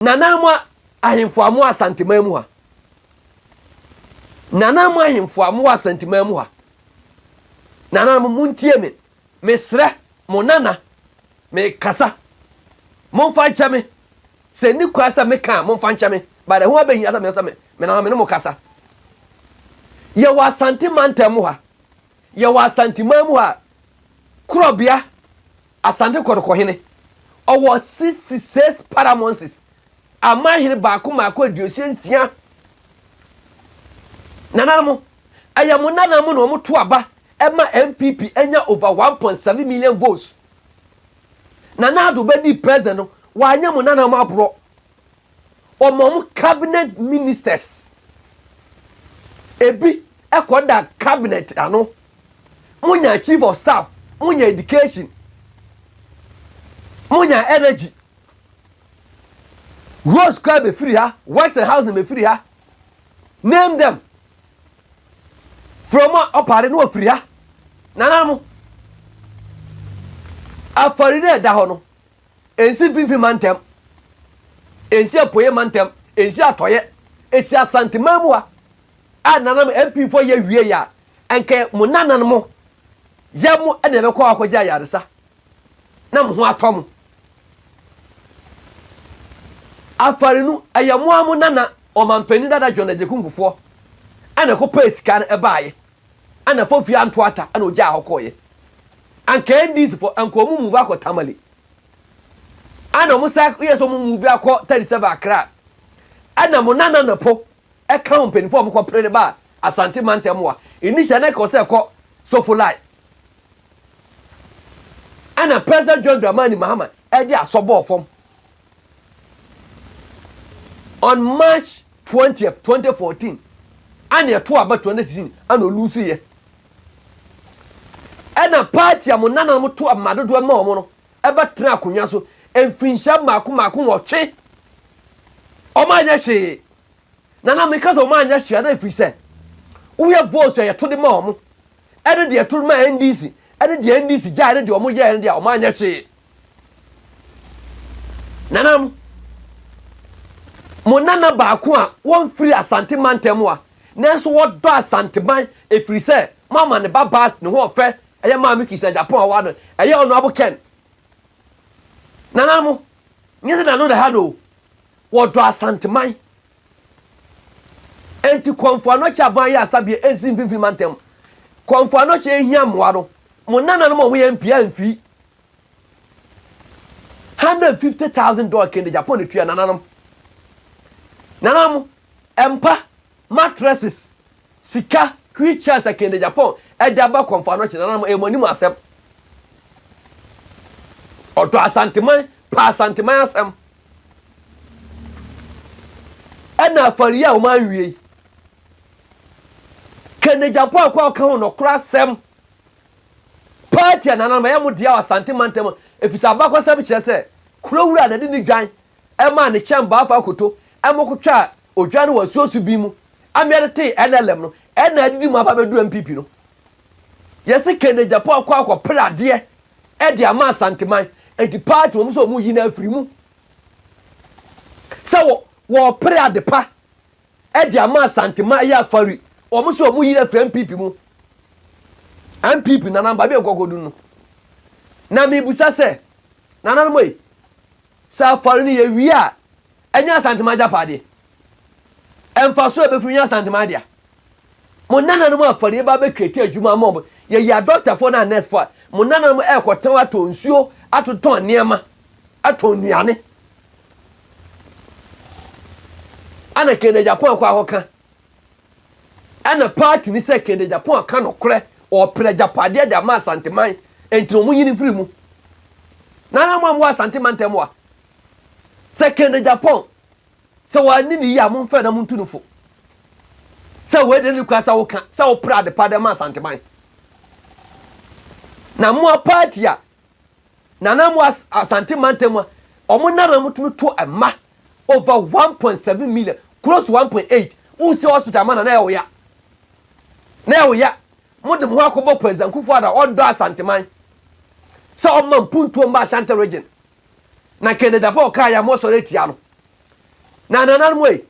Nana mo ahemfo a mowɔ Asanteman mu ha. Nana mo ahemfo a mowɔ Asanteman mu ha. Nana mo montie me. Mesrɛ mo nana mekasa. Momfa nkyɛ me. Sɛ nni kwan sɛ meka a momfa nkyɛ me. But ɛho abɛhia sɛ mesɛ me nana me ne mo kasa. Yɛwɔ Asante mantam mu ha. Yɛwɔ Asanteman mu ha. Korɔbea Asante Kɔtɔkɔ hene, ɔwɔ sixty six paramountcies, amanhene baako mmaako aduosia nsia. Nananom, ɛyɛ mo nana mo na wɔn to aba ɛma NPP anya over one point seven million votes. Nana Addo bɛdii president no, wanyɛ mo nananom aborɔ. wɔma wɔn cabinet ministers ebi kɔda cabinet ano monya chief of staff monya education monya energy rose kora bɛfiri ha works and housing bɛfiri ha name them from a ɔpare ne wɔfiri ha nana mo afɔre no ɛda hɔ no Ɛnsi Mfimfini Mantam, ɛnsi Apueɛ Mantam, ɛnsi Atɔeɛ, ɛsi Asante man mu ha a nanam MP foɔ yɛ wie yɛ a ɛnkɛ mo nanan mo yɛ mo ɛna ɛbɛkɔ hɔ akɔgye ayaresa na mo ho atɔ mo afarinu ɛyɛ mo a mo nana ɔmampanin dada John Agyeku nkufoɔ ɛna ɛkɔ pɛɛ sika no ɛbaayɛ Ana Fofia anto ata na ogyaa hɔ kɔeɛ. Anka NDC fo anka ɔmo move akɔ Tamale. Ana ɔmo sa yɛ sɛ ɔmo move akɔ 37 Accra. Ana mo Nana Nnopo ɛka wɔn mpanyinfoɔ a ɔmo kɔ pere de baa Asante mantam wa. Initial na ɛka ɔsɛ ɛkɔ Sofolai. Ana President John Dramani Mahama ɛde asɔ bɔɔ fam On March twentieth, twenty fourteen, ɛna ɛto aba twenty sixteen ɛna olusu yɛ. Ɛna paati a mo nananom to ama dodoɔ ma wɔn no ɛbɛtena akonnwa so mfinhyia mmaako mmaako nwɔtwe. Wɔanyɛ hwee. Nana me ka sɛ wɔn anyɛ hwee na ɛfiri sɛ wohwɛ votes a yɛto de ma wɔn ɛne deɛ yɛto de ma NDC ɛne deɛ NDC gyae ne deɛ wɔn yɛɛ no deɛ wɔn anyɛ hwee. Nana mo mo nana baako a wɔn firi Asante mantam a nanso wɔdɔ Asanteman ɛfiri sɛ mo ama ne ba baa ne ho ɔfɛ ɛyɛ maame kisi na Japan ɔwɔ ano ɛyɛ ɔno abo Ken. Nana mo nyɛ sɛ nano na ha no o. Wɔdɔ Asanteman. Enti Kɔmfo Anokye aban yɛ asa bea ɛnsi mfimfini mantam. Kɔmfo Anokye yɛhia mmoa no. Mo nananom a wɔyɛ mpia mfii. Hundred and fifty thousand dollar kende Japan na tua nananom. Nananom, mpa, mattresses, sika, wheel chairs a kende Japan ɛde aba Kɔmfo Anokye nananom ɛyɛ mo anim asɛm. Ɔdɔ Asanteman, pɛ Asanteman asɛm. Ɛna afɔre yi a wɔanwie yi, ka Nagyampɔn ako a ɔka ho nokorɛ asɛm paa tia nananom, ɛyɛ mo dea wɔ Asante mantam mu, ɛfiri sɛ abakɔsɛm kyerɛ sɛ kuro wura na de ne dwan maa ne kyɛmbaa Afaa Koto ma ɔkɔtwaa odwan no wɔ asuo so bi mu, amea no tee NLM no, ɛna adidi mu aba abɛduru NPP no. Yɛse Ken Agyapong akɔ akɔpere adeɛ de ama Asanteman enti party wɔn sɛ wɔyi no afiri mu sɛ wɔpere adepa de ama Asanteman ɛyɛ afari wɔn sɛ wɔyi no afiri NPP mu NPP nana baabi a nkɔkɔ dunu na mebusa sɛ nana no mɔyi sɛ afari no yɛ wie a ɛnyɛ Asanteman agyapadeɛ ɛmfa so ɛbɛfiri nyɛ Asanteman dea Mo nananom afɔreɛ ba bɛ create adwuma ama ɔmo. Yɛ yɛ adɔktafoɔ ne anɛsfoɔ a, mo nananom ɛɛkɔ tɔn atɔ nsuo, ato tɔn nneɛma, atɔn nnuane. Ɛna Kennedy Agyapong akɔ ahɔ ka. Ɛna party ne sɛ Kennedy Agyapong aka nokorɛ, ɔɔpere agyapadeɛ de ama Asanteman, ɛnti na ɔmo nyini firi mu. Nananom a mo wɔ Asante mantam wa, sɛ Kennedy Agyapong Sɛ wanni no yie a, momfɛe na montu no fo. Sɛ wei deɛ ne kura sɛ woka sɛ wopere adepa dɛ ma Asanteman. Na mmoa party a Nana mmoa Asante mantam a wɔn nana mo tumi to mma over 1.7 million close to 1.8 wosi hospital ma Nana Ɛwoya. Na Ɛwoya mo de mo ho akɔbɔ President Kufuor Addo a ɔdɔ Asanteman sɛ ɔma mpuntuo mma Ashanti region. na Canadafo kae a wɔsɔre atia no. Na nananom ei,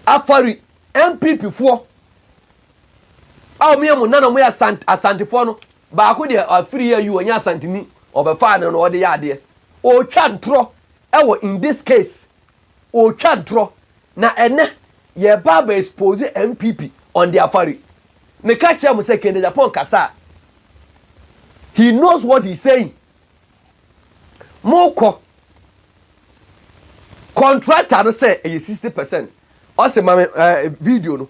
afɔre NPPfoɔ a wɔyɛ mo nana wɔyɛ asant asantefoɔ no baako deɛ afiri ayi wɔnyɛ asanteni ɔbɛfaa no na ɔde yɛ adeɛ ɔretwa ntorɔ ɛwɔ in this case Otwa drɔ na ɛnɛ yɛɛba abɛ expose NPP on their fari. Me ka kyerɛ mo sɛ Kennedy Agyapong kasa a he knows what he is saying. Mo kɔ contractor no sɛ ɛyɛ sixty percent ɔse ma me ɛɛ video no.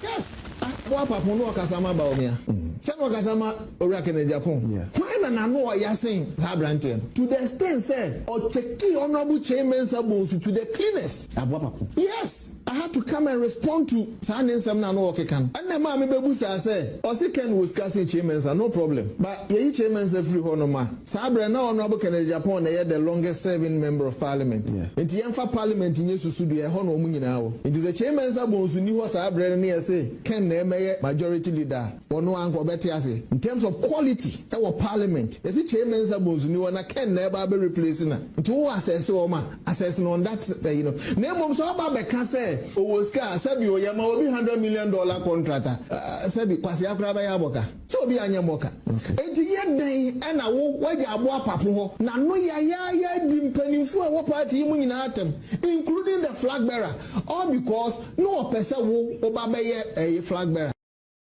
Yes, ah, boa papo no ɔkasa ma Bawumia. Sɛ na ɔkasa ma Owura Kennedy Apong. Hwan na n'ano ɔya sen saa abranteɛ no to the extent sɛ ɔkyɛkii Honourable Kyei Mensah Bonsu to the cleanest. Aboa papo. Yes, I had to come and respond to saa ne nsɛm no a na ɔkeka no. Ɛna ɛmaa me bɛbu saa sɛ, ɔse Ken wɔ sika sen Kyei Mensah, no problem, but yɛyi Kyei Mensah firi hɔ nom a, Saa berɛ na Honourable Kennedy Agyapong na ɛyɛ the longest serving member of parliament nti yɛmfa parliament nyɛ susudua ɛhɔ na wɔn nyinaa wɔ nti sɛ Kyei Mensah Bonsu nni hɔ saa berɛ no ne yɛse Ken na ɛmɛyɛ majority leader a ɔno ara nka ɔbɛte aseɛ in terms of quality ɛwɔ parliament yɛse Kyei Mensah Bonsu nni hɔ na Ken na ɛba abɛ replace no a nti wowɔ assess wɔn a assess no on that ɛyi no na mmom sɛ ɔba abɛka sɛ ɔwɔ sika a sɛbi o yɛma obi hundred million dollar contract a sɛbi kwasea koraa bɛyɛ abɔka. Sɛ obi anyɛ mmɔka. Enti yɛ dɛn na wo, w'agya abɔ apapo hɔ na no yayaaya adi mpanimfoɔ a ɛwɔ party yi mu nyinaa atɛm including the flag bearer all because no ɔpɛ sɛ wo, wo ba bɛyɛ ɛyi flag bearer?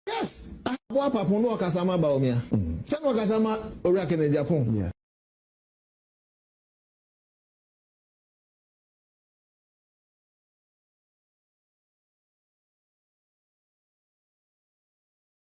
Yes, abɔ apapo no ɔkasa ma Bawumia sɛ no ɔkasa ma Owura Kenneth Gyapong.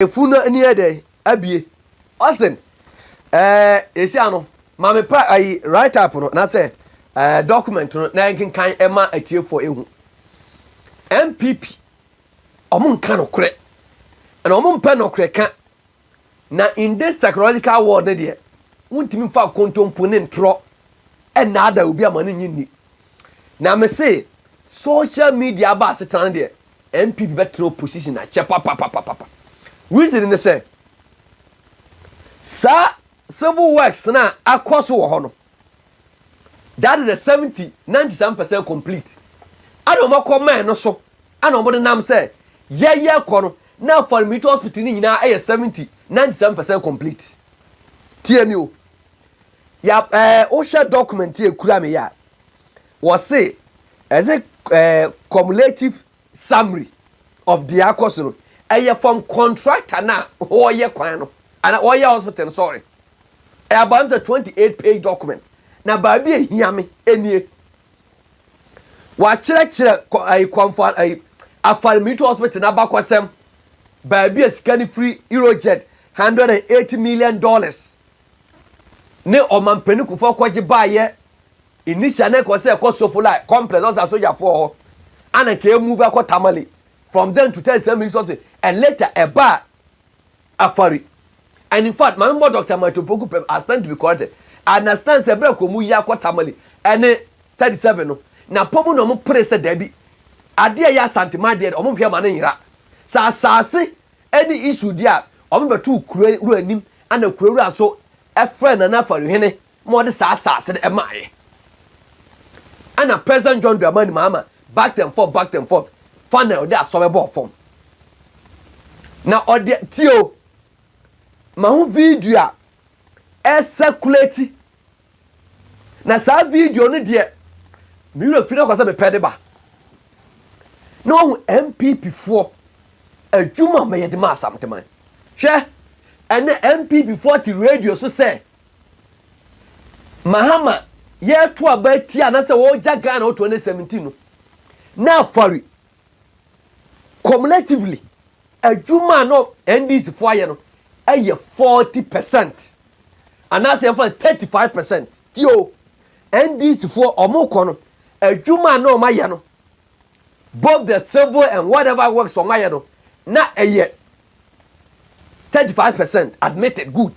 Efunu no ani yɛ dɛn? Abue. Ɔse, ɛɛ, seesei ano, ma me pra ayi, write up no, na sɛ, ɛɛ, document no, na yɛnkenkan ma atiefoɔ ɛhu. NPP, wɔn nka nokorɛ. Ɛna wɔn mpɛ nokorɛ ka. Na in this technological world no deɛ, wontumi mfa nkontompo ne ntorɔ ɛnnaada obi ama no nnye nni. Na mese, social media aba asetena no deɛ, NPP bɛtena opposition akyɛ papapapapa. Reason ne sɛ, saa civil works no a akɔ so wɔ hɔ no, that is the seventy, ninety some percent complete. Ɛna wɔn akɔ mine no so, ɛna wɔn nenam sɛ yɛyɛ kɔ no, na Afɔremiti hospital no nyinaa ɛyɛ seventy, ninety some percent complete. Tie mi o, ya ɛɛ wohyɛ document ekura mi yɛ a, Wɔse ɛdze cumulative summary of dza akɔ so no, ɛyɛ from contractor no a ɔreyɛ kwan no anaa ɔreyɛ hospital no, sorry. Ɛyɛ about me sɛ twenty eight page document, na baabi a ehia me nie. Wɔakyerɛkyerɛ Kwamfo Afar Military Hospital n'abakɔsɛm, baabi a sika no firi, Eurojed, hundred and eighty million dollars ne ɔmampanin kufoɔ kɔgye baeɛ initial na ɛkɔ sɛ ɛkɔ Sofolai complex ɔsa sogyafoɔ hɔ ana nka ɛmove akɔ Tamale from then to tell sɛ mi sɔse and later ɛbaa Afari and in fact maame bɔ Dr. Mato Poku pɛm I stand to be corrected I understand sɛ berɛ kɔ mu yi akɔ Tamale ɛne 37 no na pɔ mu na ɔmo pere sɛ daabi adeɛ yɛ Asante ma adeɛ ɔmo hwɛ ma ne nyera sɛ asaase Ɛne Esau deɛ a ɔma bɛtoo kuro wura anim, ɛna kuro wura nso frɛɛ Nana Farohene ma ɔde saa asase no maaeɛ. Ɛna President John Dramani Mahama backed and forth, backed and forth, finally ɔde asɔre bɔɔ fam. Na ɔde, tie o, ma ho video a ɛcirculate Na saa video no deɛ me werɛ firi akɔ sɛ mepɛ de ba na wahu npp foɔ adwuma a mɛyɛ de ma asamteman hwɛ ɛnɛ npp foɔ te radio so sɛ mahama yɛto aba ti anasɛ wɔgya ghana ɔtoɔ ne 17 no na afɔre Cumulatively, adwuma a na NDC fo ayɛ no yɛ forty percent anaasɛ yɛmfa no thirty five percent. Tie o, NDC foɔ wɔn kɔ no, adwuma a na wɔn ayɛ no, both the civil and whatever works wɔn ayɛ no, na ɛyɛ thirty five percent admitted good.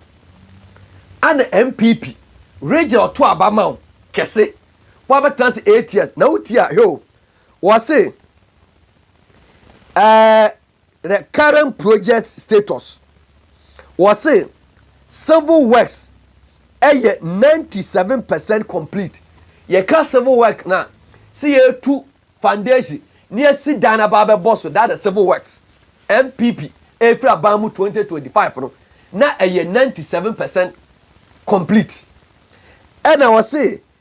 Ana NPP regye ɔto aba ma wo kɛse, wabɛtena ase eight years na wotie a hwɛ o, Wɔse eh the current project status wɔse civil works ɛyɛ ninety seven percent complete. Yɛka civil work no a, se yɛretu foundation na yɛasi dan no aba abɛbɔ so, that is civil works. NPP ɛrefiri aban mu twenty twenty five no, na ɛyɛ ninety seven percent complete. Ɛna wɔse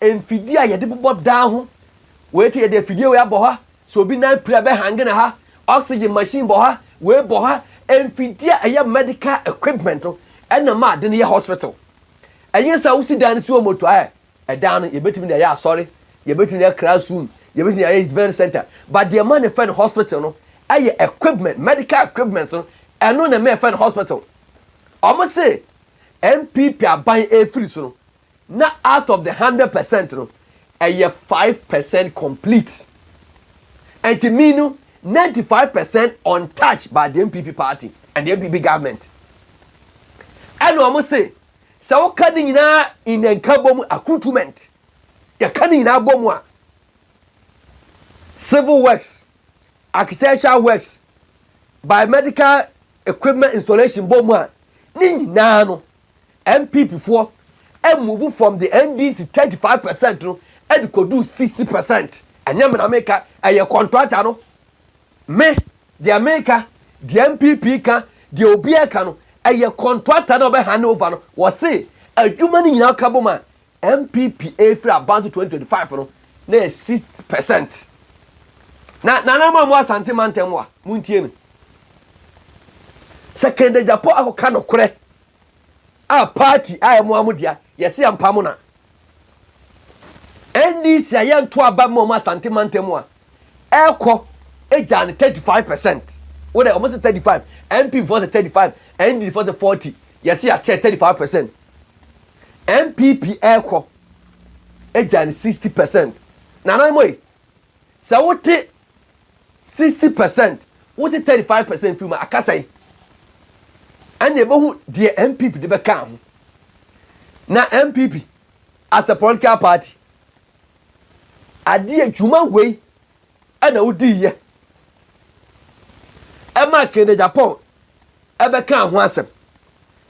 mfidie a yɛde bobɔ dan ho wei te yɛde afidie wei abɔ ha sɛ obi nan pira bɛ hange na ha oxygen machine bɔ ha wei bɔ ha mfidie a ɛyɛ medical equipment no ɛna ma ade no yɛ hospital ɛnyɛ sɛ wosi dan no si wɔ moto ayɛ ɛdan no yɛbɛtumi de ayɛ asɔre yɛbɛtumi ayɛ classroom yɛbɛtumi ayɛ event center but deɛ ma ne fɛ no hospital no ɛyɛ equipment medical equipment no ɛno na ɛma ɛfɛ no hospital ɔmo se npp aban efiri so no Na out of the hundred percent no ɛyɛ five percent complete ɛnti me no ninety five percent untouched by the NPP party and the NPP government ɛna wɔn se sɛ woka ne nyinaa in nkabom accoutrement yɛka ne nyinaa bɔ mu a civil works architectural works biomedical equipment installation bɔ mu a ne nyinaa no NPP foɔ move from the NDC thirty five percent no de kɔduu sixty percent. Ɛnyɛ me na meka, ɛyɛ kɔntrata no. Me, deɛ meka, deɛ NPP ka, deɛ obiara ka no, ɛyɛ kɔntrata no a ɔbɛhande over no. Wɔse adwuma no nyinaa kabom a NPP ɛrefiri aba nso twenty twenty five no, na ɛyɛ six percent. Na nananom a mo Asante mantam a, montie me. Sɛ Kennedy Agyapong akɔka nokorɛ a party a ɛmoa mo dea yɛse yɛmpa mo na NDC a yɛnto aba mma ɔmo Asante mantam a ɛkɔ egyaa no 35 percent wo dɛ ɔmo se 35 MP foɔ se 35 NDC foɔ se 40 yɛse yɛakyɛ 35 percent NPP ɛkɔ egyaa no 60 percent nananom ei Sɛ wote sixty percent, wote thirty five percent firi mu a, aka sɛn? Ɛnna yɛbɛhu deɛ NPP de bɛka ho. Na NPP as a political party, adeɛ dwuma wei ɛna wodiiɛ ɛma Kennedy Agyapong ɛbɛka ho asɛm.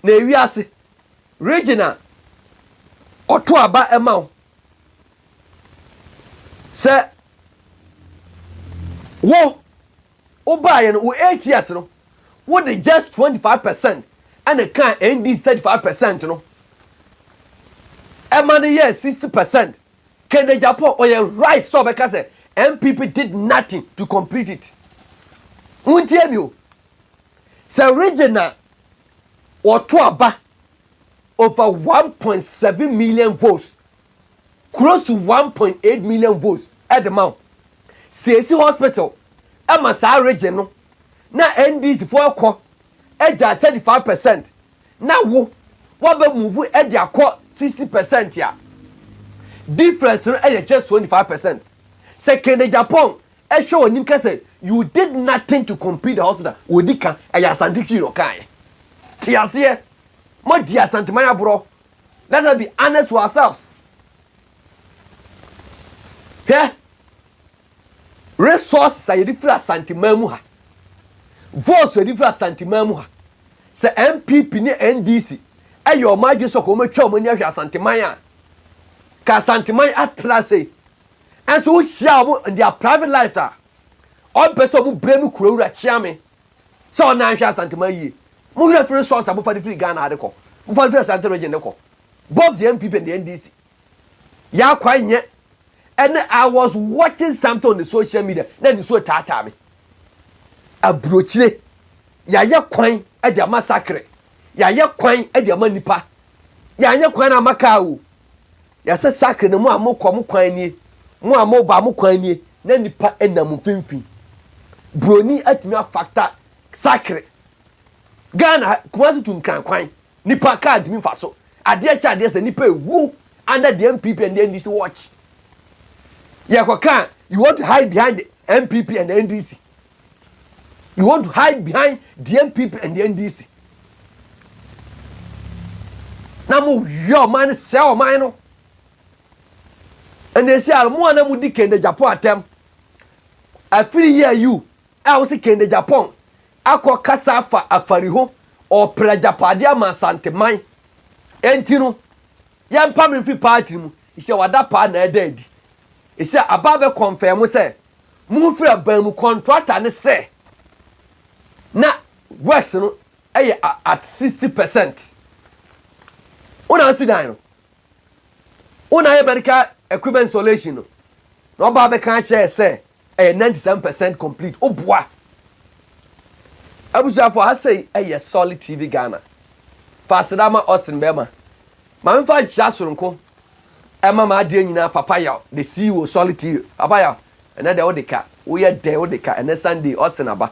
Na ewiase region a ɔto aba ɛma wo. Sɛ wo wobaeɛ no wo eight years no wode just twenty five percent ɛna kaa NDC thirty five percent no ɛma no yɛɛ sixty percent Kennedy Agyapong ɔyɛ right sɛ ɔbɛka sɛ NPP did nothing to complete it wontie mi o sɛ region a wɔto aba over one point seven million votes close to one point eight million votes de ma wo. Siesi hospital ma saa region no na NDC foɔ ɛkɔ gyaa thirty five percent na wo wabɛ move de akɔ sixty percent a difference no yɛ just twenty five percent. Sɛ Kennedy Agyapong hwɛ w'anim ka sɛ you did nothing to complete the hospital ɔdi ka ɛyɛ Asante Twi na ɔkaeɛ. Te aseɛ. Moadi Asanteman aborɔ Let us be honest to ourselves. Hwɛ, resources a yɛde firi Asanteman mu ha, votes a yɛde firi Asanteman mu ha, sɛ NPP ne NDC ɛyɛ wɔn adwene sɛ wɔn atwa wɔn ani ahwɛ Asanteman a, ka Asanteman atra ase yi, ɛnso wohyia wɔn in their private lives a, wɔn pɛ sɛ wɔn brɛ mu kurawura kyeame. sɛ ɔnaa nhwɛ asanteman yie mo hwɛ firi sons a mo fa de firi Ghana ha de kɔ mo fa firi asante region de kɔ both the NPP and the NDC yaa kwan nyɛ ɛnɛ I was watching something on the social media na nisuo taataa me aburokyire yɛayɛ kwan de ama sakre yɛayɛ kwan de ama nipa yɛanyɛ kwan na ama kaa o Yɛse sakre no mo a mokɔ mo kwan nie, mo a moba mo kwan nie, na nipa nam mo mfimfini. Broni atumi afakta sakre. Ghana ha, Kumasi to Nkran kwan, nipa kaa ntumi mfa so. Adeɛ kyɛ adeɛ sa, nipa ɛwu under the NPP and the NDC watch. Yɛkɔ kaa, you want to hide behind the NPP and the NDC. You want to hide behind the NPP and the NDC. Na mo wia ɔman no sɛ ɔman no. Ɛna esi ara mo a na mo di Kende Japan atɛm. Afiri yi a you a wosi Kende Japan akɔ kasa afa afari ho ɔpere agyapade ama Asanteman. Enti no yɛmpa me mfi party mu. Esi wada paa na ɛda adi. Esi aba abɛ confirm sɛ Momfiri aban mu kɔntrata ne sɛ na works no yɛ at sixty percent. Wo na asi dan no, wo na ayɛ medical equipment installation no, na ɔbaa bɛka akyerɛ sɛ ɛyɛ ninety seven percent complete. Woboa. Abusuafo ha sei yɛ Solid TV Ghana. Fa aseda ma Austin Bɛɛma Ma memfa nkyea soronko mma m'adeɛ nyinaa Papa Yaw The CEO Solitaire Papa Yaw Ɛnɛ deɛ wode ka Woyɛ dɛn wode ka Ɛnɛ Sunday Ɔsen aba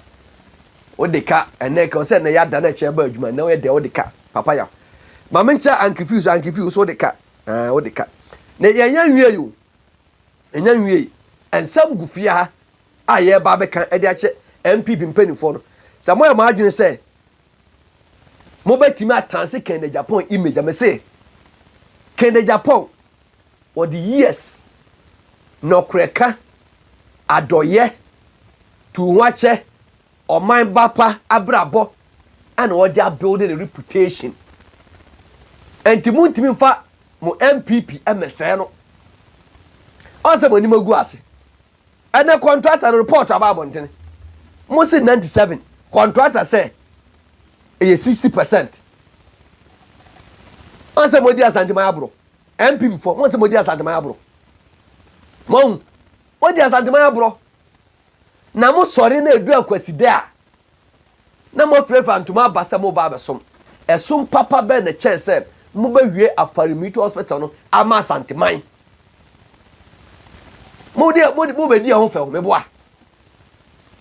Wode ka Ɛnɛ ɛka Ɔsɛ ɛnɛ yɛada na ɛkyɛn ba adwuma Ɛnɛ woyɛ dɛn wode ka Papa Yaw Ma menkyɛ Anke Fee so Anke Fee wo so wode ka Aah wode ka Ne yɛnnya nwiei o Yɛnnya nwiei Nsɛm gu fie ha a yɛreba abɛka de akyɛ NPP mpanimfoɔ no Sɛ moayɛ mo adwene sɛ Mobɛtumi atanse Ken Agyapong image a? Mese Ken Agyapong ɔde years, nɔkorɛka, adɔyɛ, tuuhoakyɛ, ɔman ba pa abrabɔ ɛna ɔde abuilde ne reputation. Ɛnti montumi mfa mo NPP mmɛsɛɛ no. Ɔnsɛ mo anim agu ase. Ɛnɛ kɔntrata no repɔɔto aba abɔntene, mose ninety seven kɔntrata sɛ ɛyɛ sixty percent. Wɔn sɛ modi Asanteman aboro, NPP fɔ, wɔn sɛ modi Asanteman aboro. Wɔn, modi Asanteman aboro. Na mo sɔre na edu akwasidɛ a, na moafirafira ntoma aba sɛ moreba abɛsom. Ɛsom papa bɛn na ɛkyɛn sɛ mobɛwie Afaremetu Hospital no ama Asanteman? Mo deɛ, mo de, mobɛdi ɛho fɛw, meboa.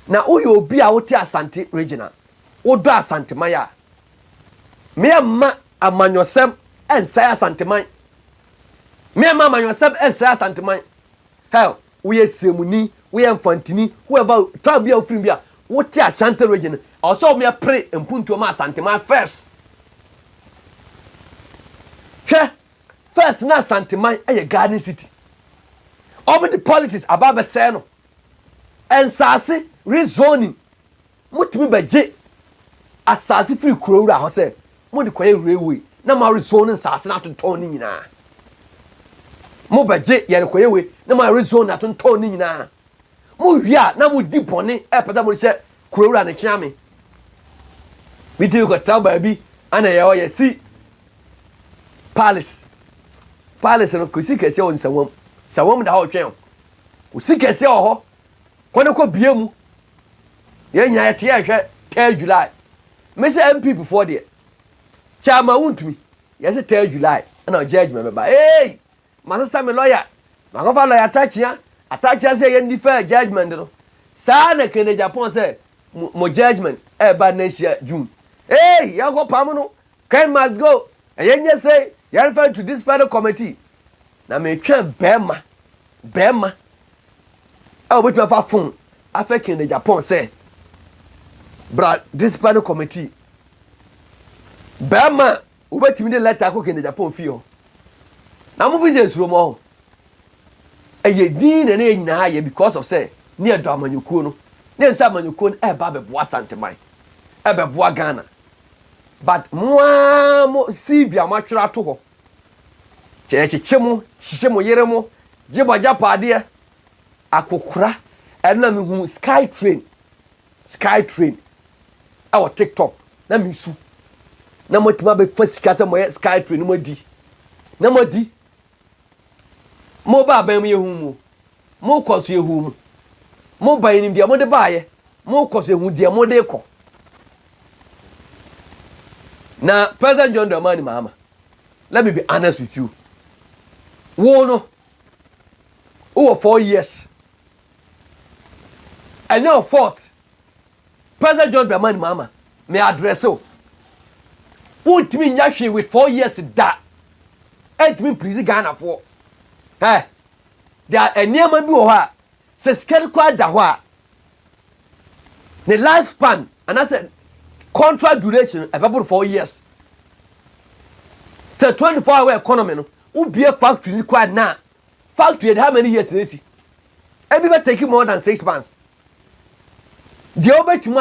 Na woyɛ obi a wote Asante region a, wodɔ Asanteman a, meɛmma amanyɔsɛm ɛnsɛe Asanteman. Meɛmma amanyɔsɛm ɛnsɛe Asanteman. Hell, Woyɛ Siamuni, woyɛ Mfantini, whoever, tribe bi a wofiri mu bi a, wote Ashanti region no, ɛwɔ sɛ wɔpere mpuntuo ma Asanteman first. Hwɛ, first na Asanteman yɛ garden city. Wɔde politics aba abɛsɛe no. Nsaase, rezoning. Motumi bɛgye asaase firi kurowura hɔ sɛ mode kɔyɛ railway na moawe zone nsaase no atontɔn ne nyinaa. Mobɛgye yɛrekɔyɛ wei na moawe zone atontɔn ne nyinaa. Mowie a na modi bɔne ɛpɛ sɛ mode hyɛ kurowura no kyea me. Bi tumi kɔtra baabi ana yɛ hɔ yɛsi palace. Palace no kɔsi kɛseɛ wɔ nsawam. Sawam da hɔ twɛn. Kɔsi kɛseɛ wɔ hɔ Kɔ ne kɔ bue mu. Yɛn nyinaa yɛte yɛn hwɛ third July. Me sɛ NPP foɔ deɛ, Chairman wontumi. Yɛse third July ɛna judgement bɛba. Eei! Masesa me lawyer, makɔfa lawyer Atakyea, Atakyea sɛ yɛn defer judgement no. Saa na Kennedy Aponah sɛ mo judgement ɛɛba next year June. Eei! Yɛnkɔ pam no, Ken must go ɛyɛ nyɛ sei yɛ refer to this fellow committee na metwɛn bɛɛma bɛɛma a obetumi afa phone afɛ Ken Agyapong sɛ bra discipline committee bɛɛma obetumi de letter akɔ Ken Agyapong fie hɔ na mo fi sɛ esuro mo ho ɛyɛ din na ɛna yɛ nyinaa yɛ because of sɛ ne yɛ dɔ amanyɔkuo no ne yɛn sɛ amanyɔkuo no ɛba abɛboa Santeman ɛbɛboa Ghana But mo ara mo CV a moatwerɛ ato hɔ, kyekyekye mo, hyehyɛ mo yere mo, gye mo agyapaadeɛ, akokora, ɛno na me hunu sky train, sky train, ɛwɔ tiktok, na me su, na mo atumi abɛfa sika sɛ mo yɛ sky train, na mo adi, na mo adi, Mo ba aban mu yɛ hu mu, mo kɔ so yɛ hu mu. Mo ba yɛnim deɛ mo de baayɛ, mo kɔ so yɛ hu deɛ mo de kɔ. Na President John Dramani Mahama, let me be honest with you. Wo no, wowɔ four years. Ɛnyɛ wɔ fourth President John Dramani Mahama, me address wo. Wontumi nyɛ hwee with four years da. Ɛntumi mpirizi Ghanafoɔ. Ɛ, there are nneɛma bi wɔ hɔ a, sɛ sika no koraa da hɔ a, ne life span anaasɛ contract duration no ɛbɛboro four years. Sɛ 24 hour economy no, wobie factory no koraa na Factory de how many years na esi? Ebi bɛ take more than six months. Deɛ wobɛtumi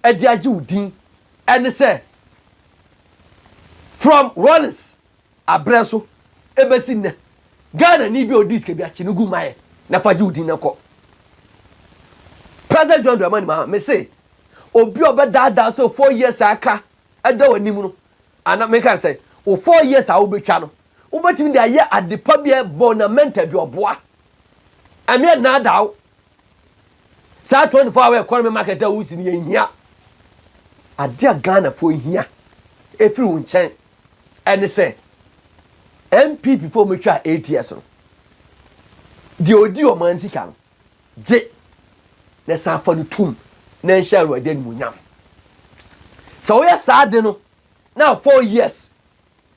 ayɛ de agye wo din ɛne sɛ from Rollins abrɛ so ebesi nnɛ Ghana ni bi a odi sika bi akye no gu ma yɛ na fa gye wo din na kɔ. President John Dramani Mahama me se obi a ɔbɛdaadaa sɛ four years a aka ɛda w'anim no ana meka sɛ o four years a wobɛtwa no Wobɛtumi de ayɛ adepa bi a ɛbɔ na mental bi ɔboa. Ɛmeɛ nnaadaa wo. Saa 24 hour economy market a wosi no yɛ nhia. Adeɛ a Ghanafoɔ hia ɛfiri wo nkyɛn ɛne sɛ NPP foɔ wɔn twa ATS no. Deɛ ɔdi wɔn ani sika no gye na san fa no tum na nhyɛ awurade animuonyam. Sɛ woyɛ saa de no na 4 years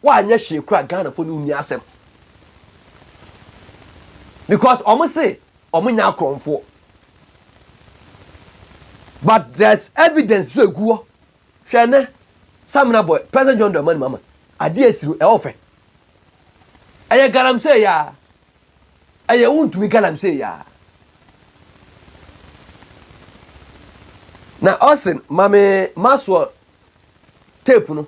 Wanyɛ hwee koraa Ghana fo no nni asɛm because ɔmo se ɔmo nyɛ akorɔmfoɔ but there's evidence so egu hɔ hwɛ ɛnɛ Samina boy President John Dramani Mahama adeɛ esi no ɛwɔ fɛ ɛyɛ galamsey yaa ɛyɛ wontumi galamsey yaa na Austin mame Maxwell tape no